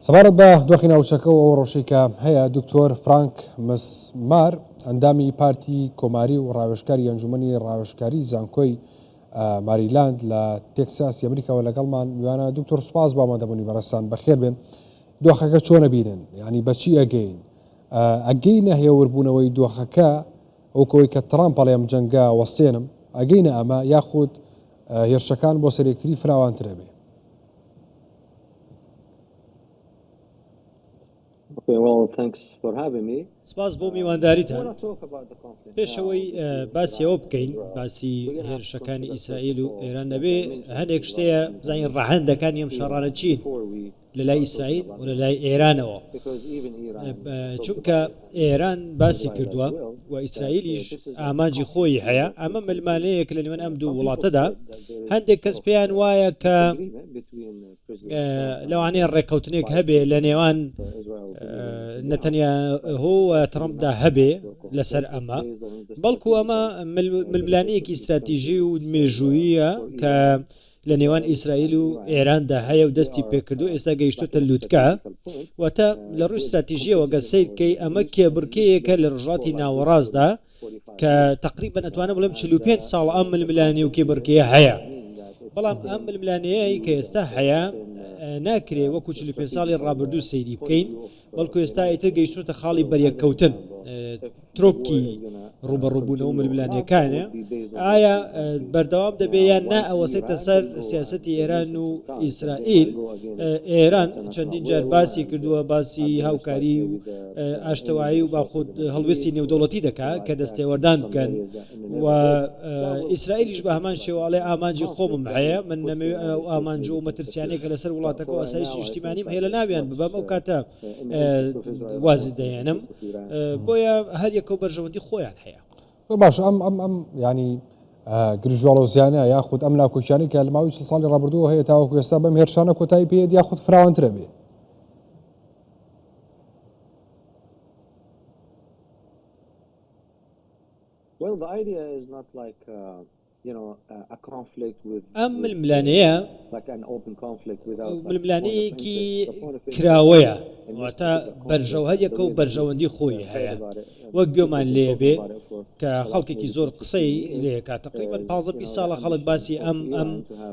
سەبارەت بە دۆخی ناوچەکە و ئەو ڕۆشەی کە هەیە دکتۆر فرانک مسمار ئەندامی پارتی کۆماری و ڕاوێشکاری ئەنجومنی ڕاوێشکاری زانکۆی ماریلاند لە تێکساسی ئەمریکاوە لەگەڵمان میوانە دکتۆر سوپاس بۆ ئامادەبوونی بەڕستان بەخێر بێن دۆخەکە چۆنە بینن ینی بەچی ئەگەین ئەگەی نەهێوربوونەوەی دۆخەکە ئەوکەوەی کە ترام پەڵێم جەنگە وەستێنم ئەگەینە ئەمە یاخود هێرشەکان بۆ سەرێکتری فراوانترە بێ سپاس بۆ میوانداریتان. پێش ئەوەی باسی ئەوە بکەین باسی هێرشەکانی ئیسرائیل و ئێران نەبێ هەندێک شتەیە بزانین ڕەهەندەکانی ئەم شەڕانە چین لە لای ئیسرائیل و لە لای ئێرانەوە چونکە ئێران باسی کردووە و ئیسرائیلیش ئامانجی خۆیی هەیە ئەمە ملمالەیەک لە نێوان ئەم دوو وڵاتەدا هەندێک کەس پێیان وایە کە لەوانەیە ڕێککەوتنێک هەبێ لە نێوان نەتەنیا هۆ ترمپدا هەبێ لەسەر ئەمە بەڵکو ئەمە ململانەیەکی استراتیژی و مێژوویە کە لە نێوان ئیسرائیل و ئێراندا هەیە و دەستی پێکردو ئێستا گەیشتوتە لوتکە واتە لە ڕووی ستراتیژیەوە گەر سەیرکەی ئەمە کێبڕکێیەکە لە ڕژاتی ناوەڕاستدا کە تقریبا ئەتوانە بڵێم 45 ساڵ ئەم ململانێ و کێبڕکێ هەیە بەڵام ئەم ململانەیە کە ئێستا هەیە ناکرێ وەکو 45 ساڵی ڕابردوو سەیری بکەین بەڵکو ئێستا ئیتر گەیشتوونەتە خاڵی بەریەککەوتن ترۆپکی ڕوبەڕوبوونەوە ململانێکانە ئایا بەردەوام دەبێ یان نا ئەوەسێتە سەر سیاستی ئێران و ئیسرائیل ئێران چەندین جار باسی کردووە باسی هاوکاری و ئاشتەوایی و باخود هەڵویستی نێودەوڵەتی دەکات کە دەستێوەردان بکەن و ئیسرائیلیش بە هەمان شێوە ئەڵێ ئامانجی خۆمم هەیە من نەمەوێ ئەو ئامانج و مەترسیانێکە لەسەر وڵاتەکە و ئاسایش نیشتیمانیم هەیە لە ناویان ببەم ئەو کاتە وازی دەێنم بۆیە هەر یەکە و بەرژەوەندی خۆیان هەیە باش ئەم ئەم ئەم ینی گرژواڵە زیانە یاخود ئەم ناکۆکیانی کە لە ماوی ساڵی ڕابردووە هەیە تاوەکو ئێستا بەم هێرشانە کۆتایی پێێت یاخود فراوانترە بێ ئەم ململانێیە ململانێیەکی کراوەیە واتە بەرژەو هەریەکە و بەرژەوەندی خۆی هەیە وەک گوێمان لێ بێ کە خەڵکێکی زۆر قسەی لێ کاتەقریبن پ ساڵە خەڵک باسی ئەم ئەم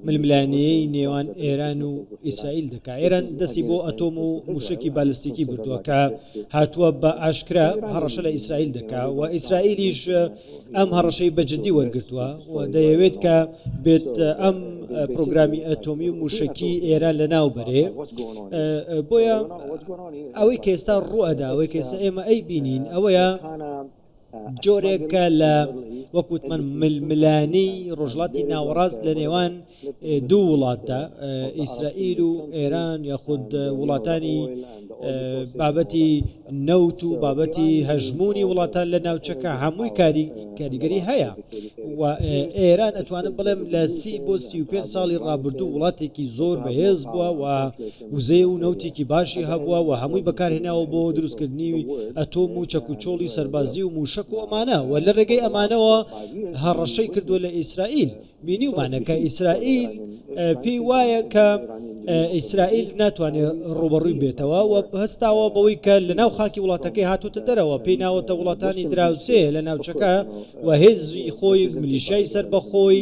ململانەیە نێوان ئێران و ئیسرائیل دەکا ئێران دەستی بۆ ئەتۆم و موشکی بالستیکی بردووە کە هاتووە بە ئاشکرا هەڕەشە لە ئیسرائیل دەکا و ئیسرائیلیش ئەم هەڕەشەی بە جددی وەرگتووە و دەیەوێت کە بێت ئەم پرۆگرامی ئەتۆمی و موشکی ئێران لە ناو بەرێ بۆیە ئەوەی کە ئێستا ڕوئەدا ئەوەی کەسە ئێمە ئەی بینین ئەوەیە جۆرێکە لە وەکووتمەن ململانێی ڕۆژڵاتی ناوەڕاست لە نێوان دوو وڵاتدا ئیسرائیل و ئێران یاخود وڵاتانی بابەتی نەوت و بابەتی هەژمونی وڵاتان لە ناوچەکە هەمووی کاری کاریگەری هەیە و ئێران ئەتوانم بڵێم لە سی بۆ سی و پێ ساڵی ڕابردوو وڵاتێکی زۆر بەهێز بووە و وزەیە و نەوتێکی باشی هەبووە و هەمووی بەکارهێناوە بۆ دروستکردنی ئەتۆم و چەک و چۆڵی سەربازی و مووشەک و ئەمانە و لە رێگەی ئەمانەوە هەڕەشەی کردووە لە ئیسرائیل بینیومانە کە ئیسرائیل پێی وایە کە ئیسرائیل ناتوانێت ڕوبەڕووی بێتەوە و هەستاوە بەوەی کە لە ناو خاکی وڵاتەکەی هاتوتە دەرەوە پێی ناوەتە وڵاتانی دراوسێ لە ناوچەکە و هێزی خۆی ملیشای سربەخۆی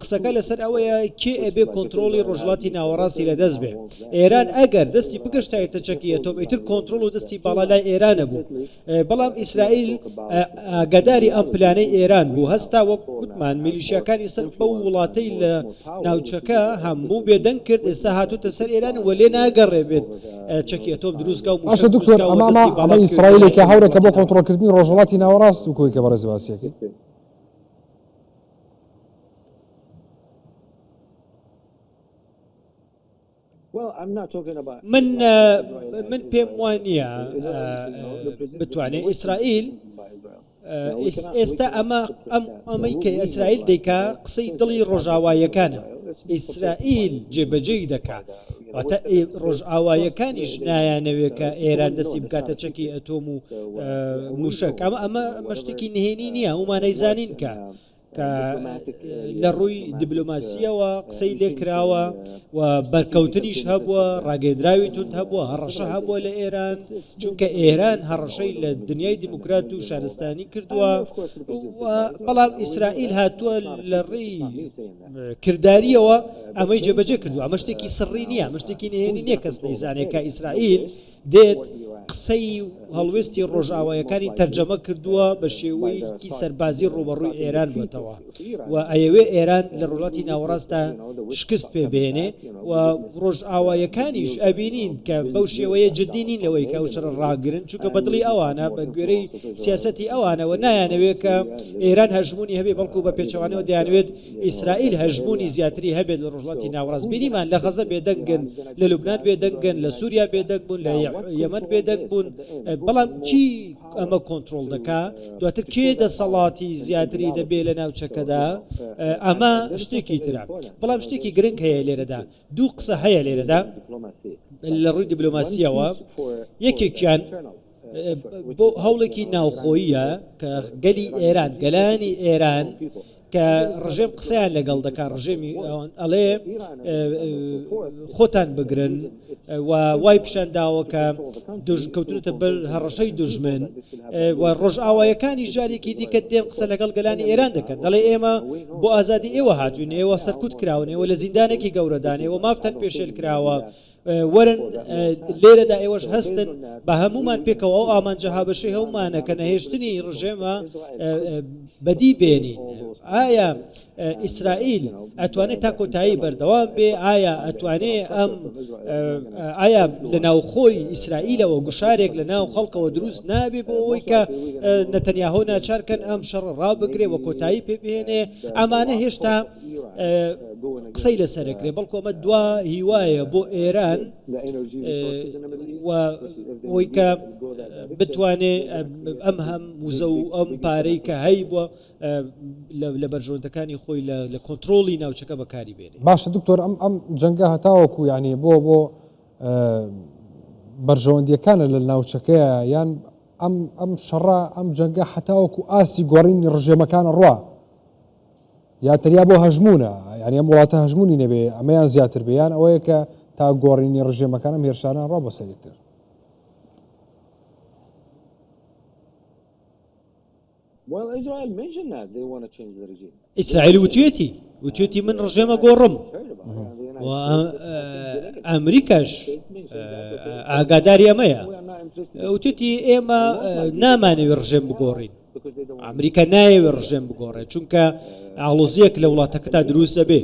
قسەکە لەسەر ئەوەیە کێ ئەبێ کۆنترۆڵی ڕۆژهەڵاتی ناوەڕاستی لەدەست بێ ئێران ئەگەر دەستی بگەشتایەتە چەکی ئەتۆم ئیتر کۆنترۆڵ و دەستی باڵا لای ئێرانە بوو بەڵام ئیسرائیل ئاگاداری ئەم پلانەی ئێران بوو هەستا وەک وتمان میلیشیاکانی سەر بەو وڵاتەی لە ناوچەکە هەموو بێدەنگ کرد ئێستا هاتوتە سەر ئێران و لێ ناگەڕێ بێت چەکی ئەتۆم دروستکە و مشە دکتۆر ئەمامە ئیسرائیلێکە هەورەکە بۆ کۆنترۆلکردنی ڕۆژهڵاتی ناوەڕاست و کۆی کە بەڕێز باسیەکەی من من پێم وا نییە بتوانێت ئیسرائیل ئێستا ئەمە ئەم ئەمەی کە ئیسرائیل دەیکا قسەی دڵی ڕۆژاوایەکانە ئیسرائیل جێبەجێی دەکات واتە ڕۆژئاواییەکانیش نایانەوێت کە ئێران دەستی بکاتە چەکی ئەتۆم و موشک ئەمە ئەمە مەشتێکی نهێنی نییە ئەومانەی زانین کە کە لە ڕووی دیبلۆماسیەوە قسەی لێکراوە و بەرکەوتنیش هەبووە ڕاگەندراوی تونند هەبووە هەڕەشە هەبووە لە ئێران چونکە ئێران هەڕەشەی لە دنیای دیموکرات و شارستانی کردووە بەڵام ئیسرائیل هاتووە لە ڕێی کردارییەوە ئەمەی جێبەجێ کردووە، ئەمە شتێکی سڕی نییە، ئەمە شتێکی نهێنی نییە، کەس نەیزانێت کە ئیسرائیل دێت، قسەی و هەڵوێستی ڕۆژئاواییەکانی تەرجەمە کردووە، بە شێوەیەکی سەربازی ڕووبەڕووی ئێران بووەتەوە و ئەیەوێت ئێران لە ڕۆژهەڵاتی ناوەڕاستدا شکست پێ بێنێت. و ڕۆژئاوایەکانیش ئەبینین کە بەو شێوەیە جددی نین لەوەی کە ئەو شەڕە ڕاگرن چونکە بەدڵی ئەوانە بە گوێرەی سیاسەتی ئەوانەوە نایانەوێت کە ئێران هەژمونی هەبێ بەڵکو بە پێچەوانەوە دەیانوێت ئیسرائیل هەژمونی زیاتری هەبێت لە ڕۆژڵاتی ناوەڕاست بینیمان لە غەزە بێدەنگن لە لوبناان بێدەنگن لە سووریا بێدەنگ بوون لە یەمەند بێدەنگ بوون بەڵام چی ئەمە کۆنترۆڵ دەکا دواتر کێ دەسەڵاتی زیاتری دەبێ لە ناوچەکەدا ئەمە شتێکی ترە بەڵام شتێکی گرنگ هەیە لێرەدا دوو قسە هەیە لێرەدا لە ڕووی دیبلۆماسیەوە یەکێکیان بۆ هەوڵێکی ناوخۆیە کە گەلی ئێران گەلانی ئێران کە ڕژێم قسەیان لەگەڵ دەکات ڕژێمی ئەڵێ خۆتان بگرن و وای پیشان داوە کە کەوتونەتە بەر هەڕەشەی دژمن و ڕۆژئاوایەکانی جارێکی دیکە دێن قسە لەگەڵ گەلانی ئێران دەکەن دەڵێ ئێمە بۆ ئازادی ئێوە هاتوینەوە سەرکوت کراونەوە لە زیندانێکی گەورەدانەوە مافتەن پێشێل کراوە وەرن لێرەدا ئێوەش هەستن بە هەمومان پێکەوە ئەو ئامانجە هاوبەشەی هەمومانە کە نەهێشتنی ڕژێمە بەدی بێنین ئایا ئیسرائیل ئەتوانێت تا کۆتایی بەردەوام بێ ئایا ئەتوانێ ئەم ئایا لە ناوخۆی ئیسرائیلەوە گوشارێک لە ناو خەڵکەوە دروست نابێ بۆ ئەوەی کە نەتەنیاهۆ ناچارکەن ئەم شەڕ ڕابگرێ وە کۆتایی پێبێنێ ئەمانە هێشتا قسەی لەسەر ئەکرێ بەڵکۆ ئەمە دوا هیوایە بۆ ئێران و ئەوی کە بتوانێ ئەم هەم وزە و ئەم پارەی کە هەی بووە لە بەرژۆندەکانی خۆی لە کۆنتترۆلی ناوچەکە بەکاری بێنێ باشە دکتۆر ئەم ئەم جەنگە هەتاوەکو یعنی بۆ بۆ بەرژەوەندیەکانە لە ناوچەکەیە یان ئەم ئەم شەڕە ئەم جەنگە حتاوەکو ئاسی گۆڕینی ڕژێمەکان ڕوا یا تەنیا بۆ هەژموونە، یانی ئەم وڵاتە هەژموونی نەبێ، ئەمەیان زیاتر بێ، یان ئەوەیە کە تا گۆڕینی ڕژێمەکان ئەم هێرشانە ڕا بۆ سەر یەکتر. ئیسرائیل وتوێتی وتوێتی من ڕژێمە گۆڕم و ئەمریکاش ئاگاداری ئەمەیە وتوێتی ئێمە نامانەوێ ڕژێم بگۆڕین ئەمریکا نایەوێ ڕژێم بگۆڕێ چونکە ئاڵۆزیەک لە وڵاتەکەدا دروست دەبێ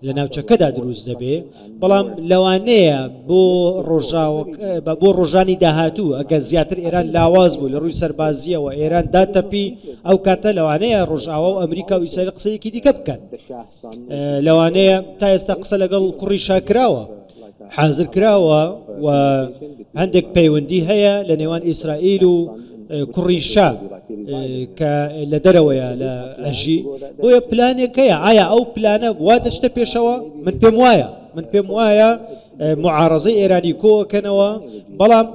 لە ناوچەکەدا دروست دەبێ بەڵام لەوانەیە بۆ ڕۆژاوە بە بۆ ڕۆژانی داهاتوو ئەگە زیاتر ئێران لاواز بوو لە ڕووی سەربازیەوە ئێران داتەپی ئەو کاتە لەوانەیە ڕۆژاوا و ئەمریکا و ئیسرائیل قسەیەکی دیکە بکەن لەوانەیە تا ئێستا قسە لەگەڵ کوڕی شاکراوە حازر کراوە و هەندێک پەیوەندی هەیە لە نێوان ئیسرائیل و کوڕی شا کە لە دەرەوەیە لە ئەژی بۆیە پلانێکەیە ئایا ئەو پلانە وا دەشتە پێشەوە من پێم وایە من پێم وایە معارزەی ئێرانی کۆکەنەوە بەڵام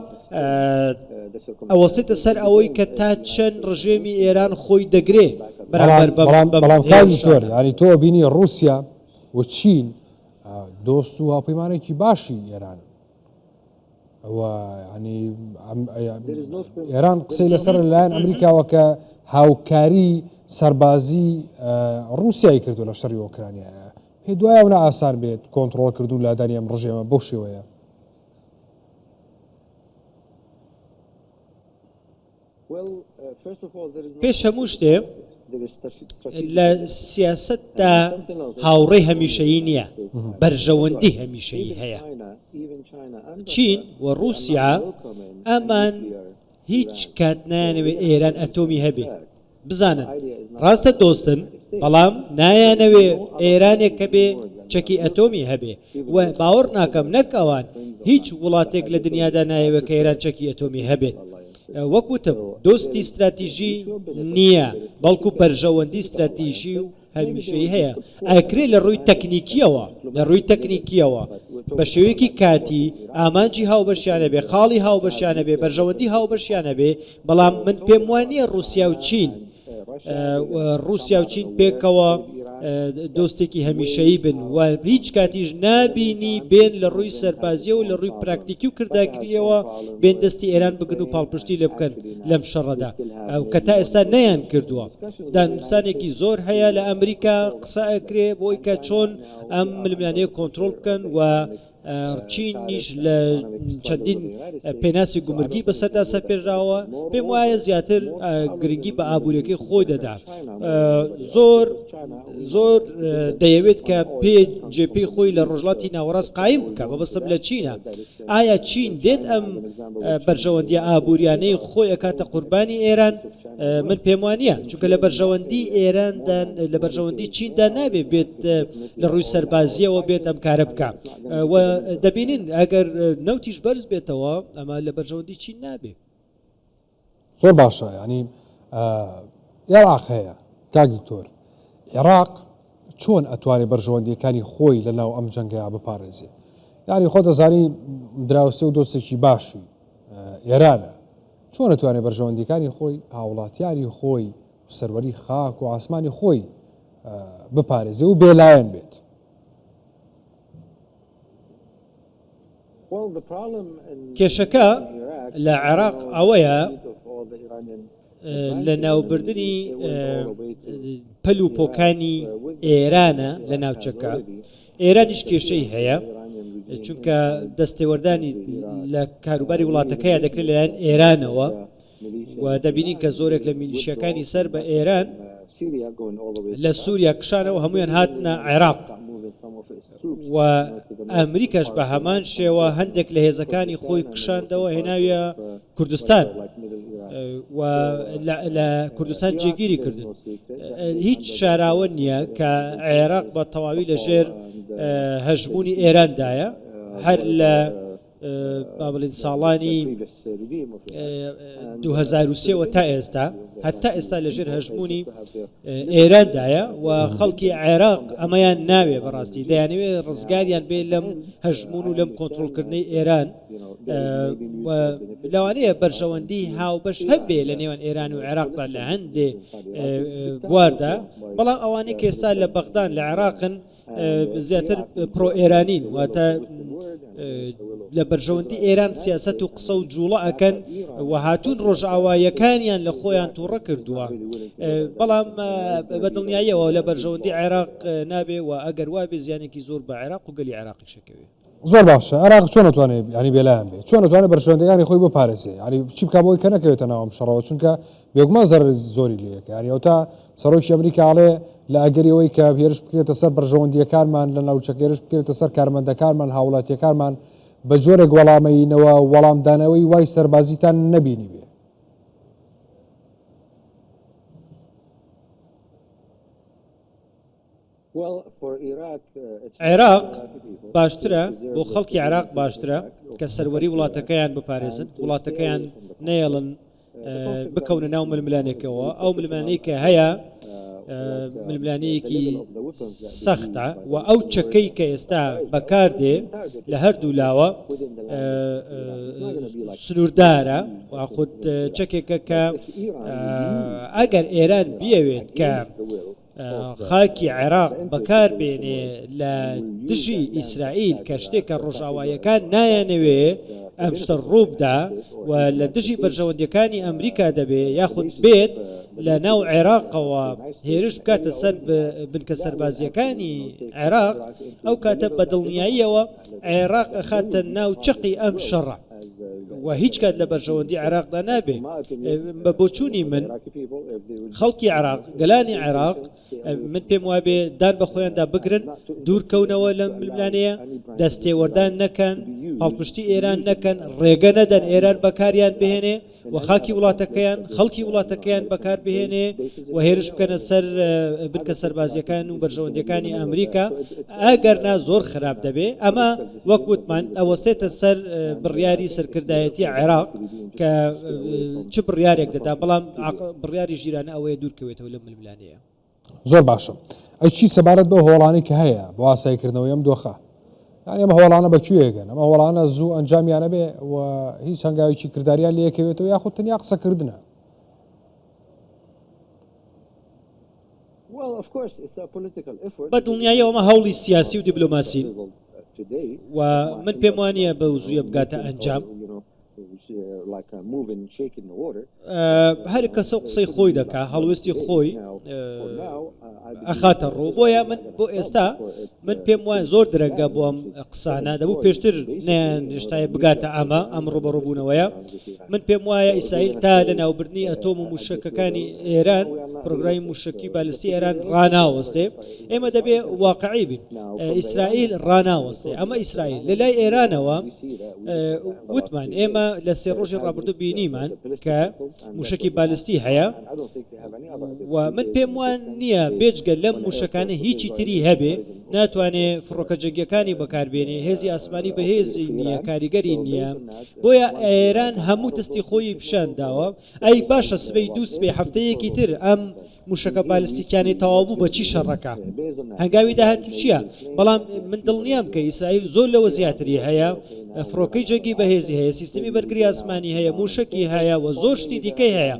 ئەوەستێتە سەر ئەوەی کە تا چەند ڕژێمی ئێران خۆی دەگرێ بەرامبەر بە بەڵام بەڵام بەم کاک هێرشانە. دکتۆر یعنی تۆ بینی ڕووسیا و چین ئا، دۆست و هاوپەیمانێکی باشی ئێرانن و یعنی ئەم ئەیە- ئێران قسەی لەسەر لەلایەن ئەمریکاوە کە هاوکاری سەربازی ئا، ڕووسیای کردو لە شەڕی ئۆکرانیایە پێت وایە ئەونە ئاسان بێت کۆنتڕۆڵ کردو لادانی ئەم ڕژێمە بەو شێوەیە؟ پێش هەموو شتێ لە سیاستدا هاوڕێی هەمیشەیی نییە بەرژەوەندی هەمیشەیی هەیە چین و رووسیا ئەمان هیچ کات نانەوێت ئێران ئەتۆمی هەبێت بزانن ڕاستە دۆستن بەڵام نایانەوێ ئێرانێک هەبێ چەکی ئەتۆمی هەبێ و باوەڕ ناکەم نەک ئەوان هیچ وڵاتێک لە دنیادا نایەوێ کە ئێران چەکی ئەتۆمی هەبێت وەکوتم دۆستی ستراتیژی نییە بەڵکو بەرژەوەندی ستراتیژی و هەمیشەیی هەیە، ئەکرێت لە ڕووی تەکنیکییەوە لە ڕووی تەکنیکییەوە بە شێوەیەکی کاتی، ئامانجی هاوبەشیان هەبێت، خاڵی هاوبەشیان هەبێت، بەرژەوەندی هاوبەشیان هەبێت، بەڵام من پێم وا نییە ڕووسیا و چین ڕووسیا و چین پێکەوە دۆستێکی هەمیشەیی بن و هیچ کاتیش نابینی بێن لە ڕووی سەربازییەوە و لە ڕووی پراکتیکی و کرداکرییەوە بێن دەستی ئێران بگرن و پاڵپشتی لێ بکەن لەم شەڕەدا کە تا ئێستا نەیانکردووە. دانوستانێکی زۆر هەیە لە ئەمریکا قسە ئەکرێ بۆی کە چۆن ئەم ململانێ کۆنتترۆل بکەن و چینیش لە چەندین پێناسی گومرگی بەسەردا سەپێراوە پێم وایە زیاتر گرنگی بە ئابوووریەکەی خۆی دەدات زۆر زۆر دەیەوێت کە پێ جێپی خۆی لە ڕۆژڵاتی ناوەڕاست قایم بکە بەبستم لە چینە ئایا چین دێت ئەم بەرژەوەندی ئابووریانەی خۆی ئەکاتە قوربانی ئێران من پێم وانییە چونکە لە بەرژەوەندی ئێراندا لە بەرژەوەندی چیندا نابێت بێت لە ڕووی سەربازیەوە بێت ئەم کارە بکە دەبینین ئەگەر نەوتیش بەرز بێتەوە ئەمە لە بەرژەوەندی چین نابێت زۆر باشە ینی عێراق هەیە کاک دکتۆر عێراق چۆن ئەتوانێ بەرژەوەندیەکانی خۆی لە ناو ئەم جەنگەیە بپارێزێ یاری خۆ دەزانی دراوسێ و دۆستێکی باشی ئێرانە چۆن ئەتوانێ بەرژەوەندیەکانی خۆی هاوڵاتیانی خۆی سەروەری خاک و ئاسمانی خۆی بپارێزێ و بێلایەن بێت کێشەکە لە عێراق ئەوەیە لە ناوبردنی پەل و پۆکانی ئێرانە لە ناوچەکە ئێرانیش کێشەی هەیە چونکە دەستێوەردانی لە کاروباری وڵاتەکەیە دەکرێت لەلایەن ئێرانەوە و دەبینین کە زۆرێک لە میلیشیەکانی سەر بە ئێران لە سووریا کشانەوە هەمویان هاتنە عێراق و ئەمریکاش بە هەمان شێوە هەندێک لە هێزەکانی خۆی کشاندەوە هێناویە کوردستان و لە کوردستان جێگیری کردن هیچ شاراوە نییە کە عێراق بە تەواوی لەژێر هەژمونی ئێراندایە هەر لە با بڵێین ساڵانی دوو هەزار و سێ وە تا ئێستا هەتا ئێستا لەژێر هەژموونی ئێراندایە و خەڵکی عێراق ئەمەیان ناوێ بەڕاستی دەیانەوێ ڕزگاریان بێ لەم هەژمون و لەم کۆنتترۆلکردنەی ئێران لەوانەیە بەرژەوەندی هاوبەش هەبێ لە نێوان ئێران و عێراقدا لە هەندێ بواردا بەڵام ئەوانەی کێستا لە بەغدان لە عێراقن زیاتر پرۆ ئێرانین واتە لە بەرژەوەندی ئێران سیاست و قسە و جوڵە ئەکەن و هاتوون ڕۆژئاوایەکانیان لە خۆیان تووڕە کردووە بەڵام بە دڵنیاییەوە لە بەرژەوەندی عێراق نابێ و ئەگەر وابێ زیانێکی زۆر بە عێراق و گەلی عێراقی شەکەوێت زۆر باشە عراق چۆن نتوانێت ینی بێلایان بێت چۆن نتوانێت بەرژەوەندەکانی خۆی بۆ پارێزێ ینی چی بک بۆی کە نەکەوێتە ناوم شەڕەوە چونکە بێگومان زەر زۆری لەکە ینی ئەو تا سەرۆکی ئەمریکاڵێ لە ئەگەریەوەی کە هێرش بکرێتە سەر بەرژەوەندیەکانمان لە ناوچەکێرش بکرێتە سەر کارمەندەکانمان هاوڵاتیەکانمان بە جۆرێک وەڵامەینەوە وەڵامدانەوەی وای سەربازیتان نەبینی بێ عێراق باشترە، بۆ خەڵکی عێراق باشترە کە سەروەری وڵاتەکەیان بپارێزن، وڵاتەکەیان نەیەڵن بکەونە ناو ململانێکەوە، ئەو ململانێی کە هەیە ململانەیەکی سەختە و ئەو چەکەی کە ئێستا بەکاردێ لە هەردوو لاوە سنووردارە و خود چەکێکە کە ئەگەر ئێران بیەوێت کە خاکی عێراق بەکار بێنێ لە دژی ئیسرائیل کە شتێکە ڕۆژاوایەکان نایانەوێ ئەم شتە ڕووبدا و لە دژی بەرژەوەندەکانی ئەمریکا دەبێ یاخود بێت لە ناو عێراقەوە هێرش بکاتە سەر بنکە سەربازیەکانی عێراق ئەو کاتە بەدڵنیاییەوە عێراق ئەخاتە ناو چەقی ئەم شەڕە و هیچ کات لە بەرژەوەندی عێراقدا نابێ بە بۆچوونی من خەڵکی عێراق گەلانی عێراق من پێم وابێ دان بە خۆیاندا بگرن دوورکەونەوە لە ململانەیە دەستێوەردان نەکەن پاڵپشتی ئێران نەکەن ڕێگە نەدەن ئێران بەکاریان بهێنێ و خاکی وڵاتەکەیان، خەڵکی وڵاتەکەیان بەکار بهێنێ و هێرش بکەنە سەر بنکە سەربازییەکان و بەرژەوەندییەکانی ئەمریکا، ئەگەر نا زۆر خراپ دەبێ. ئەمە وەک وتمان ئەوەستێتە سەر بڕیاری سەرکردایەتی عێراق کە چ بڕیارێک دەدا، بەڵام بڕیاری ژیرانە ئەوەیە دوورکەوێتەوە لەم ململانێیە. زۆر باشە ئەی چی سەبارەت بەو هۆڵانەی کە هەیە بۆ ئاسایی کردنەوەی ئەم دۆخە یان ئەمە هۆڵانە بە کوێگەن ئەمە هۆڵانە زوو ئەنجامیانە بێ و هیچ هەنگاوێکی کرداریان لەکەوێتەوە یاخود تەنیا قسەکردە بە دڵنیایی ئەمە هەوڵی سیاسی و دیبلۆماسی و من پێم وانە بە وزویە بگاتە ئەنجام. هەر کەسەو قسەی خۆی دەکا هەڵوێستی خۆی ئەخاتە ڕوو بۆیە من بۆ ئێستا من پێم وایە زۆر درەنگە بۆم قسانە دەبوو پێشتر نێشتای بگاتە ئەمە ئەم ڕوبەڕبوونەوەیە من پێم وایە ئیسرائیل تا لە ناوبردنی ئەتۆم و موشەکەکانی ئێران پرۆگرای موشکی بالستی ئێران ڕناوەستێ ئێمە دەبێ واقعی بین ئیسرائیل ڕناوەستێ ئەمە ئیسرائیل لە لای ئێرانەوە وتمان ئێمە لە سێ ڕۆژی ڕابردوو بینیمان کە موشکی بالستی هەیە و من پێم وان نییە بێجگە لەم موشەکانە هیچی تری هەبێ ناتوانێ فڕۆکە جەنگەکانی بەکاربێنێ هێزی ئاسمانی بەهێزی نییە کاریگەری نییە بۆیە ئێران هەموو دەستی خۆی پیشان داوە ئەی باشە سبەی دوو سبەی هەفتەیەکی تر ئەم موشەکە بالستیکیانەی تەواوبوو بە چی شەڕەکە هەنگاوی داهاتوو چییە بەڵام من دڵنیام کە ئیسرائیل زۆر لەوە زیاتری هەیە فڕۆکەی جەنگی بەهێزی هەیە سیستمی بەرگری ئاسمانی هەیە موشکی هەیە و زۆر شتی دیکەی هەیە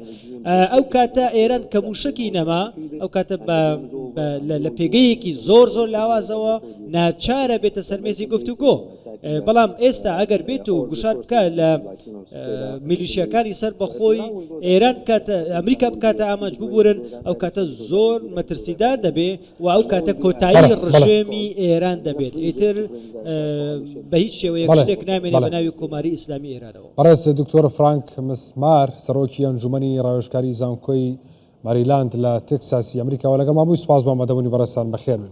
ئەو کاتە ئێران کە موشکی نەما ئەو کاتە لە پێگەیەکی زۆر زۆر لاوازەوە ناچارە بێتە سەرمێزی گفتوگۆ بەڵام ئێستا ئەگەر بێت و گوشار بکە لە میلیشیەکانی سەر بەخۆی ئێران کاتە ئەمریکا بکاتە ئامانج ببورن ئەو کاتە زۆر مەترسیدار دەبێ و ئەو کاتە کۆتایی ڕژێمی ئێران دەبێت ئیتر بە هیچ شێوەیە شتێک نامێنێ بە ناوی کۆماری ئیسلامی ئێرانەوە بەڕێز دکتۆر فرانک مسمار سەرۆکی ئەنجومی ڕاوێشکاری زانکۆی ماریلاند لە تێکساسی ئەمریکاوە لەگەڵ مابووی سپاس بۆ مەدەبوونی بەڕێستان بەخێرن.